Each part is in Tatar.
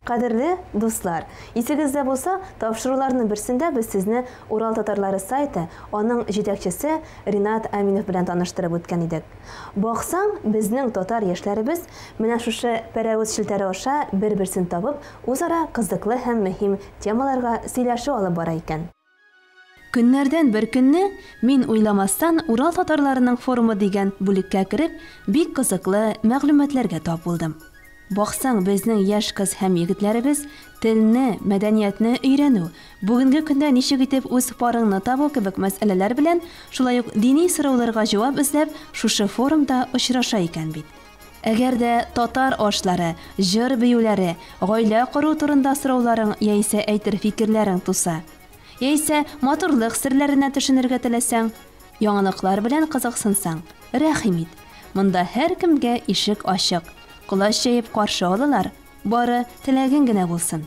Кадерле дуслар, исегездә булса, тапшыруларның берсендә без сезне Урал татарлары сайты, аның җитәкчесе Ринат Аминов белән таныштырып үткән идек. Баксаң, безнең татар яшьләребез менә шушы пәрәвез челтәре аша бер-берсен табып, үзара кызыклы һәм мөһим темаларга сөйләшү алып бара икән. Көннәрдән бер көнне, мин уйламастан Урал татарларының форумы дигән бүлеккә кереп, бик кызыклы мәгълүматларга тап булдым. Баксаң, безнең яшь кыз һәм егетләребез телне, мәдәниятне өйрәнү, бүгенге көндә ничек итеп үз парыңны табу кебек мәсьәләләр белән, шулай ук дини сорауларга җавап эзләп, шушы форумда очраша икән бит. Әгәр дә татар ашлары, җыр-биюләре, гаилә кору турында сорауларың яисә әйтер фикерләрең туса, яисә матурлык серләренә төшенергә теләсәң, яңалыклар белән кызыксынсаң, рәхим ит, монда һәркемгә ишек ачык, колач җәеп каршы алалар, бары теләгең генә булсын.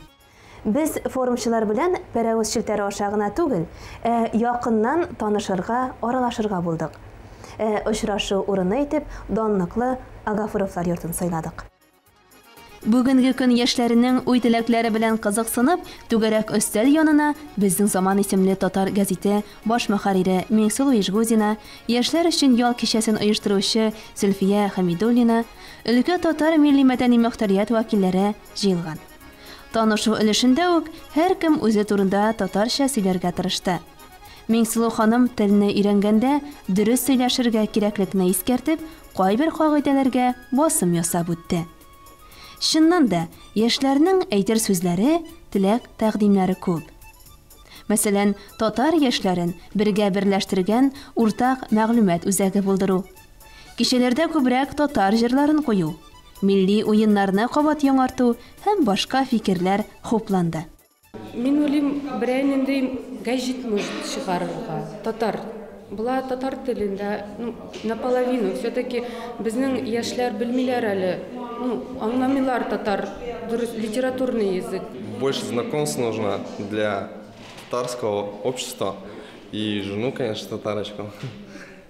Без форумчылар белән Пәрәвез челтәре аша гына түгел, ә якыннан танышырга, аралашырга булдык. Ә очрашу урыны итеп данлыклы Агафуровлар йортын сайладык. Бүгенге көн яшьләренең уй-теләкләре белән кызыксынып, түгәрәк өстәл янына Безнең заман исемле татар гәзите баш мөхәррире Миңсылу Ижгузина, яшьләр өчен ял кичәсен оештыручы Зөлфия Хәмидуллина, өлкә татар милли-мәдәни мөхтәрият вәкилләре җыелган. Танышу өлешендә үк һәркем үзе турында татарча сөйләргә тырышты. Миңсылу ханым телне өйрәнгәндә дөрес сөйләшергә кирәклекне искәртеп, кайбер кагыйдәләргә басым ясап үтте. Чыннан да, яшьләрнең әйтер сүзләре, теләк-тәкъдимнәре күп. Мәсәлән, татар яшьләрен бергә берләштергән уртак мәгълүмат үзәге булдыру, Кичәләрдә күбрәк татар җырларын кую, милли уеннарны кабат яңарту һәм башка фикерләр хупланды. Мин уйлыйм, берәр нинди гәҗит может чыгарырга, татар була, татар телендә, ну, наполовину, все-таки безнең яшьләр белмиләр әле, ну, аңламыйлар татар, дөрес, литературный язык. Больше знакомств нужно для татарского общества и жену, конечно, татарочку.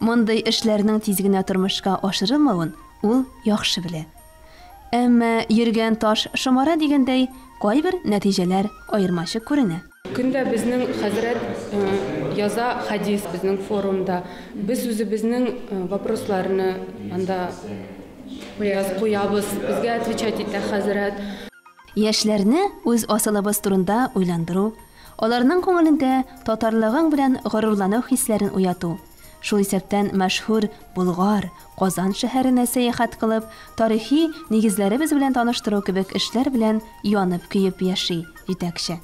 Мондый эшләрнең тиз генә тормышка ашырылмавын ул яхшы белә. Әмма, йөргән таш шомара дигәндәй, кайбер нәтиҗәләр аермачык күренә. Көндә безнең хәзрәт яза хәдис безнең форумда. Без үзебезнең вопросларны анда куябыз. Безгә отвечать итә хәзрәт. Яшьләрне үз асылыбыз турында уйландыру, аларның күңелендә татарлыгың белән горурлану хисләрен уяту, шул исәптән мәшһүр Болгар, Казан шәһәренә сәяхәт кылып, тарихи нигезләребез белән таныштыру кебек эшләр белән янып-көеп яши җитәкче.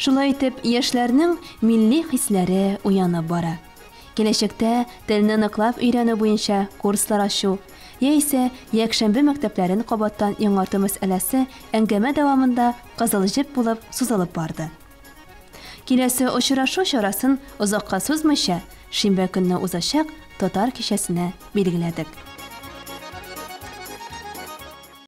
Шулай итеп, яшьләрнең милли хисләре уянып бара. Киләчәктә телне ныклап өйрәнү буенча курслар ачу яисә якшәмбе мәктәпләрен кабаттан яңарту мәсьәләсе әңгәмә дәвамында кызыл җеп булып сузылып барды. Киләсе очрашу чарасын озакка сузмыйча, шимбә көнне узачак Татар кичәсенә билгеләдек.